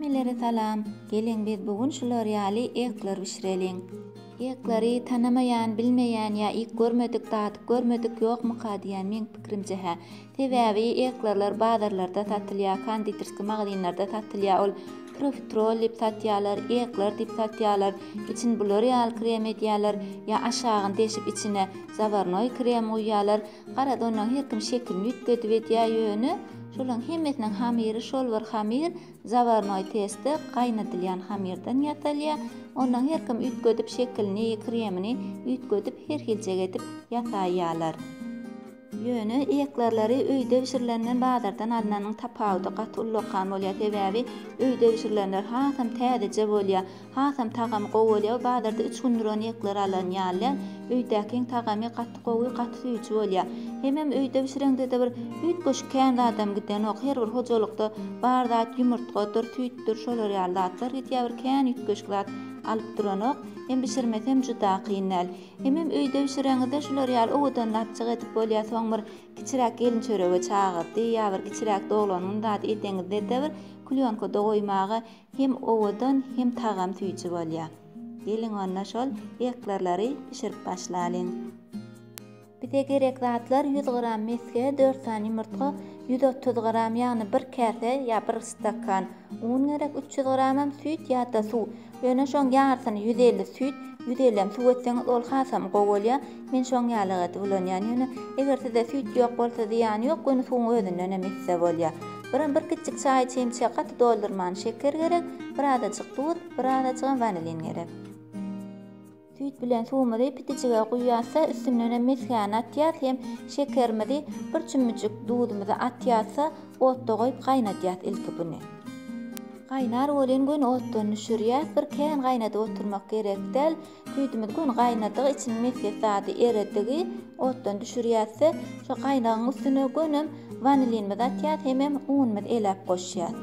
Hemmelere salam. Geliň biz bu gün şular ýaly ýyklar bişireliň. Ýyklary tanamaýan, bilmeýän ýa iýip görmedik, dadyp görmedik ýokmyka diýýän meň pikirimçe hä. Sebäbi ýyklarlar bazarlarda satylýar, konditerski magazynlarda satylýar ol profiterol diýip satýarlar, ýyklar diýip satýarlar. Için bular ýaly krem edýärler ýa aşagyny deşip içine zawarnoý krem guýýarlar. Gara donlaň her kim şekilini üýtgedip edýär ýöne şolaň hemmesiniň hamyry şol bir hamyr zawarnoý testde gaýnadylýan hamyrdan ýasalýar onlaň her kim üýtgedip şekilini kremini üýtgedip her hiljek edip ýasaýýalar ýöne eklerleri öýde bişirilenden bazardan alnanyň tapawudy gaty ullakan bolýar sebäbi öýde bişirilenler hasam täzeje bolýar Hasam tagamy gowy bolýa bazarda üç gündür ony ýeklere alan ýaly öýdäkiň tagamy gaty gowy gaty süýji bolýa hemem öýde bişireňdede bir üýtgeşik kän zadam gidenok her bir hojalykda bar zat ýumurtgadyr süýtdür şolar ýaly zatlar gidýa bir kän üýtgeşik zat alyp duranok hem bişirmesem juda kyn däl hemem öýde bişireňizde şular ýaly owadan lapjyk edip bolýa soň bir kiçiräk gelin çörege çagyrdy ýa bir kiçiräk doglanyň zady edeňizdede bir klýonkada goýmaga Hem owadan hem tagam süýji bolýa. Geliň onda şol eklerleri bişirip başlalyň. Bize gerek zatlar ýüz gram mesge dört sany ýumurtga ýüz otuz gram ýagny bir käse ýa bir stakan un gerek üç ýüz gramam süýt ýada suw ýöne şoň ýarsyny ýüz elli süýt ýüz ellem suw etseňiz ol hasam gowy bolýa Men şoň ýaly gaty ulanýan ýöne eger sizde süýt ýok bolsa zyýany ýok göni suwuň özünden hem içse bolýa. Biram bir kiçjik çaý çemçe gaty doldurman şeker gerek, birazajyk duz, birazajygam wanilin gerek. Süýt bilen suwumyzy pitijige guýýarsa üstünden hem mesgäni atýas hem şekerimizi bir çümmüjik duzumyzy atýasa otda goýup gaýnadýas ilki buny. Gaýnar welin göni otdan düşürýäs bir kän gaýnadyp oturmak gerekdäl. Süýdümizi göni gaýnadyk, içiniň mesges zady eredigi otdan düşürýäs-de, şo gaýnagyň üstüne gönem wanilinimizi atýas, hemem unumyzy eläp goşýas.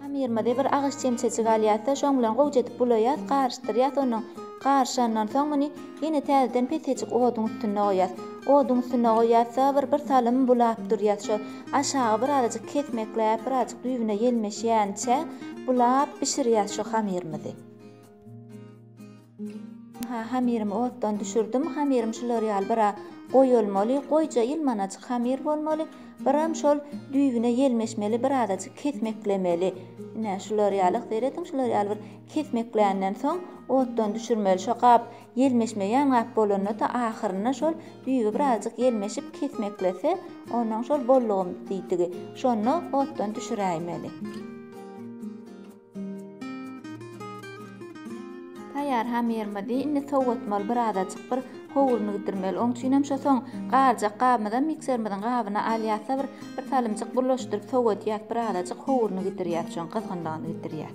Hamyrymyzy bir agyz çemçejik alýas-da, şoň bilen gowja edip bulaýas, garyşdyrýas, onuň garyşandan soň muny ýene täzeden pesejik oduň üstünde goýýas. Oduň üstünde goýýas-da, bir birsalym bulap durýas, şo aşagy birazajyk kesmekläp, birazajyk düýbüne ýelmeşýänçä, Bulap bişirýäs şu hamyrymyzy. Ha hamyrymy otdan düşürdim. Hamyrym şular ýaly biraz goýy bolmaly. Goýja ýylmanajyk hamyr bolmaly. Biram şol düýbüne ýelmeşmeli, birazajyk kesmeklemeli. Ine şular ýaly, seret şular ýaly bir kesmekländen soň otdan düşürmeli. Şo gap Ýelmeşme ýaňap bolanda-da ahyrynda şol düýbi birazjyk ýelmeşip kesmeklese, onnoň şol bollugym diýdigi, şonda otdan düşüräýmeli. Taýýar hamyrymyzy indi sowatmaly, birazajyk bir howruny gidirmeli. Oň üçinem şo soň galjak gabymyzam mikserimiziň gabyna alýas-da, bir bir salymjyk bulaşdyryp sowadýas, birazajyk howruny gidirýäs, şoň gyzgynlygyny gidirýäs.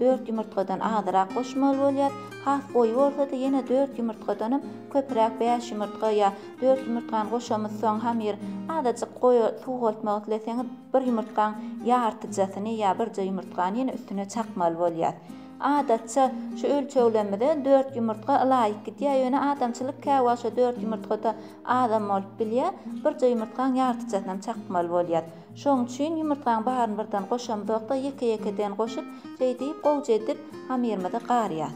dört ýumurtgadan azyrak goşmaly bolýar, has goýy bolsa-da ýene dört ýumurtgadanam köpräk bäş ýumurtga ýa dört ýumurtgany goşamyz soň hamyr azajyk goýa suwgaltmak isleseňiz bir ýumurtgaň ýartyjasyny ýa birje ýumurtgany ýene üstüne çakmaly bolýar. Adatça şu ölçeglerimize dört ýumurtga ylaýyk gidýär ýöne adamçylyk käwagşa dört ýumurtgada azam bolup bilýär, birje ýumurtgaň ýartyjasynam çakmaly bolýar. Şoň üçin ýumurtgaň baryny birden goşamzok-da, ýeke-ýekeden goşup, şeýdip, gowja edip, hamyrymyzy garýas.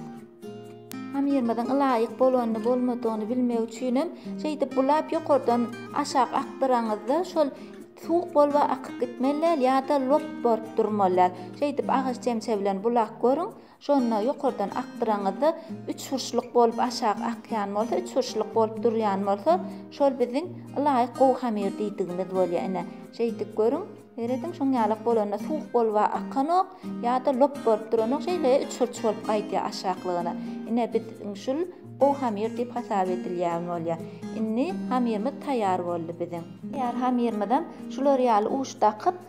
Hamyrymyzyň ylaýyk bolanyny-bolmadygyny bilmek üçinem, şeýdip bulap ýokardan aşak akdyraňyzda, şol suwuk bolup akyp gitmeli däl ýa-da lop bolup durmaly däl. Şeýdip agaç çemçe bilen bulap görüň. Şonda ýokardan akdyraňyzda üç hurşluk bolup aşak akýan bolsa, üç hurşluk bolup durýan bolsa, şol biziň ylaýyk gowy hamir diýdigimiz bolýar. Ine, şeýdip görüň. Serediň, şoň ýalak bolanda suwuk bolup-a akanok, ýa-da lop bolup duranok, şeýle üç hurç bolup gaýdýar aşaklygyna. Ine, biz iň şul gowy hamir diýip hasap edilýän bolýar. Indi hamirimiz taýýar boldy biziň. Taýýar hamirimiz hem şular ýaly uç dakyp,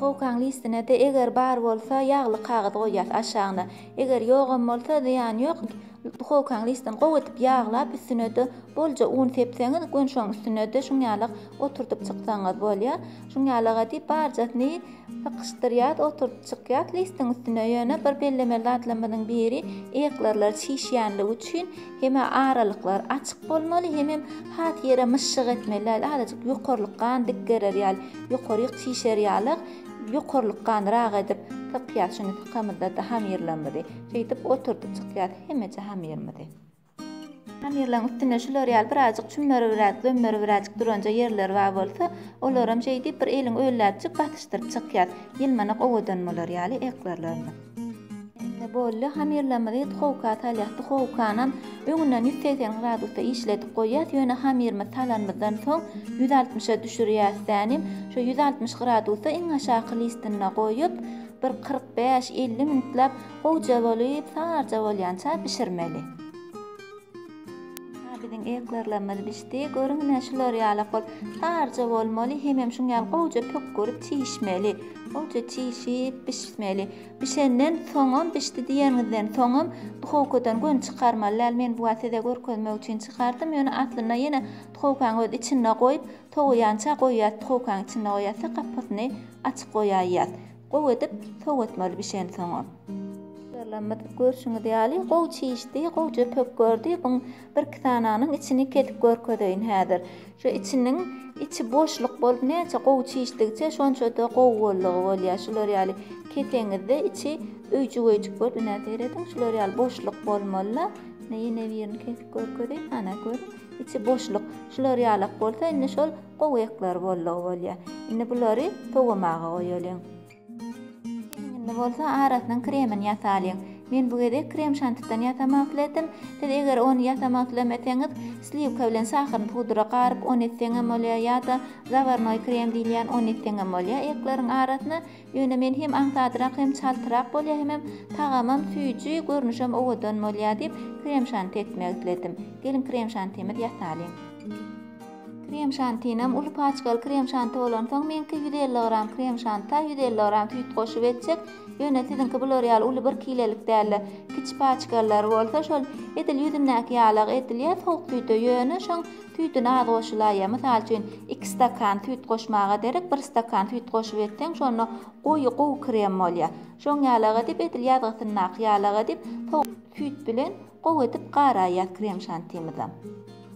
Howkaň listine-de eger bar bolsa ýagly kagyz goýýas aşagyna. Eger ýogam bolsa zyýany ýok. Howkaň listini gowy edip ýaglap üstüne-de bolja un sepseňiz gön şoň üstüne-de şuň ýalak oturdyp çyksaňyz bolýa. Şuň ýalaga diýip barjasyny sykyşdyrýas oturdyp çykýas listiň üstüne. Ýöne bir bellemeli zatlarymyzyň biri eklirler çişýänligi üçin hem-ä aralyklar açyk bolmaly hemem has ýere myşşyk etmeli däl azajyk ýokarlykgan dik gerer ýaly. Ýokaryk çişer ýalyk, ýokarlykganrak edip sypýas şuny sykamyzda-da hamyrlarymyzy. Şeýdip oturdyp çykýas hemeje hamyrymyzy. Hamyrlaryň üstüne şular ýaly birazjyk çümmerigiräk, zömmerigiräjik duranja ýerleri bar bolsa, olaram şeýdip bir eliň ölläpjik basyşdyryp çykýas. Ýylmanak owadan bolar ýaly eklerlerimiz. Indi boldy, hamyrlarymyzy duhowka salýas. Duhowkanam öňünden ýüz segsen gradusda işledip goýýas, ýöne hamyrymyzy salanymyzdan soň ýüz altmyşa düşürýäs täni. Şo ýüz altmyş gradusda iň aşaky listinde goýup, bir kyrk bäş, elli minutlap gowja bolup, saryja bolýança bişirmeli. Hä, biziň eklerlerimiz bişdi. Görüň ine, şular ýalak bolup, tarja bolmaly, hemem şuň ýaly gowuja pökgürip çişmeli. Gowuja çişip, bişmeli. Bişenden soňam, bişdi diýeniňizden soňam duhowkadan göni çykarmaly däl. Men bu wagt size görkezmek üçin çykardym, ýöne aslynda ýene duhowkaň öz içinde goýup, sowaýança goýýas, duhowkaň içinde goýýas-da, gapasyny açyk goýaýýas. Gowy edip sowatmaly bişensoňam. Ýalamyz görşüňiz ýaly gowy çişdi, gowja pök gördi, byň birki sananyň içini kesip görkezeýin häzir. Şu içiniň içi boşluk bolup näçe gowy çişdigiçe şonçada gowy boldugy bolýar. Şular ýaly keseňizde içi öýjügeýjik bolup ine serediň şular ýaly boşluk bolmalyda. Ine ýene birini kesip görkezeýin ana görüň içi boşluk. Şular ýalak bolsa indi şol Gowy ekler boldugy bolýar. Indi bulary sowamaga goýalyň. Geliň indi bolsa arasynyň kremini ýasalyň. Men bu gezek krem şantidan ýasamak isledim. Siz eger ony ýasamak islemeseňiz, sliwka bilen şahyryny pudra garyp ony etseň hem bolýar ýa-da zawarnoý krem diýilýän ony etseň hem bolýar ekleriň arasyna. Ýöne men hem aňsadrak hem çaltyrak bolýar hemem tagamam süýji, görnüşem owadan bolýar diýip krem şanti etmek isledim. Geliň krem şantimizi ýasalyň. Krem şantinem uly paçkaly krem şanti bolansoň meňki ýüz elli gram krem şanta ýüz elli gram süýt goşup etjek ýöne siziňki bular ýaly uly bir kilelik dälde kiçi paçkalylary bolsa şol edil ýüzündäki ýalagy edilýä sowuk süýte ýöne şoň süýdüni az goşulaýýa mysal üçin iki stakan süýt goşmaga derek bir stakan süýt goşup etseň şonda goýy gowy krem bolýa şoň ýalagy edip edil ýazgysyndaky ýalagy edip sowuk süýt bilen gowy edip garaýýas krem şantimizem.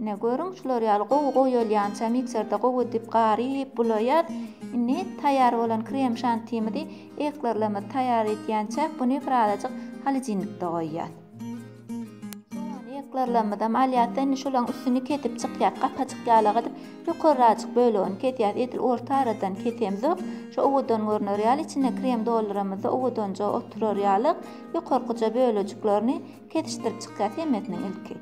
Ine, görüň, şular ýaly gowy goýalýança mikserde gowy edip garyp, bulaýar. Indi taýýar bolan krem-şantimizi eklerlerimizi taýýar edýänçäk buny bir azajyk holodilnikde goýýas. Soňra eklerlerimizem alýas-da, indi şolaryň üstüni kesip çykýas. Gapajyk ýalak edip, ýokarrajyk bölegini kesýäs. Edil orta aradan kesemzok. Şu owadan görner ýaly, içine krem dolduramyzda owadanja oturar ýalyk. Ýokarkyja bölejiklerini Kesişdirip çykýar hemmesiniň ilki.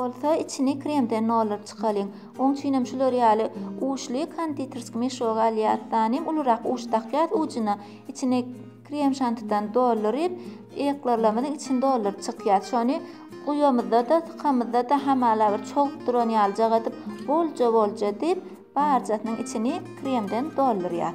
bolsa içini kremden nolaryp çykalyň. Oň üçinem şular ýaly uçly konditerski meşogy alýas, sanem ulurak uç dakýas ujuna, içine Krem şantidan dolduryp, eklorlarymyzyň içini dolduryp çykýas. Şony guýamyzda-da, sykamyzda-da hamala bir çogup duran ýalyjak edip, bolja-bolja edip, barjasynyň içini kremden doldurýas.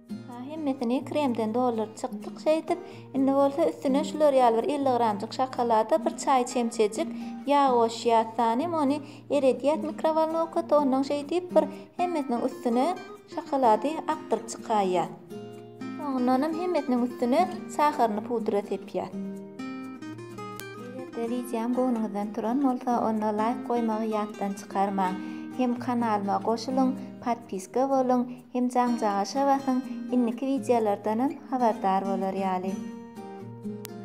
Ýa hemmesini kremden dolduryp çykdyk şeýdip, indi bolsa üstüne şular ýaly bir elli gramjyk şokolada bir çaý çemçejik ýag goşýas, tanym ony eredýäs mikrowolnowkada, ondan şeýdip bir hemmesiniň üstüne şokolady akdyryp çykaýýas. Soňundanam hemmesiniň üstüne saharyny pudra sepýäs. Eger-de wideom göwnüňizden turan bolsa, onda laýk goýmagy ýatdan çykarmaň. Hem kanalyma goşulyň, podpiska boluň, Hem jaňjagaşa basyň indiki wideolardanam habardar bolar ýaly.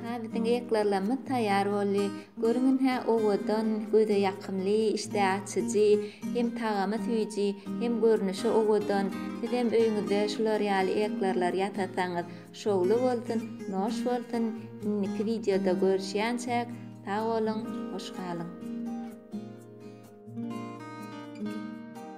Hä biziň eklerlemmiz taýýar boldy. Görüň inhä owadan, göze ýakymly, işdä açyjy, hem tagamy süýji, hem görnüşi owadan. Sizem öýüňizde şular ýaly eklerler ýasasaňyz şowly bolsun, noş bolsun. Indiki wideoda görüşýänçäk sag boluň, hoş galyň.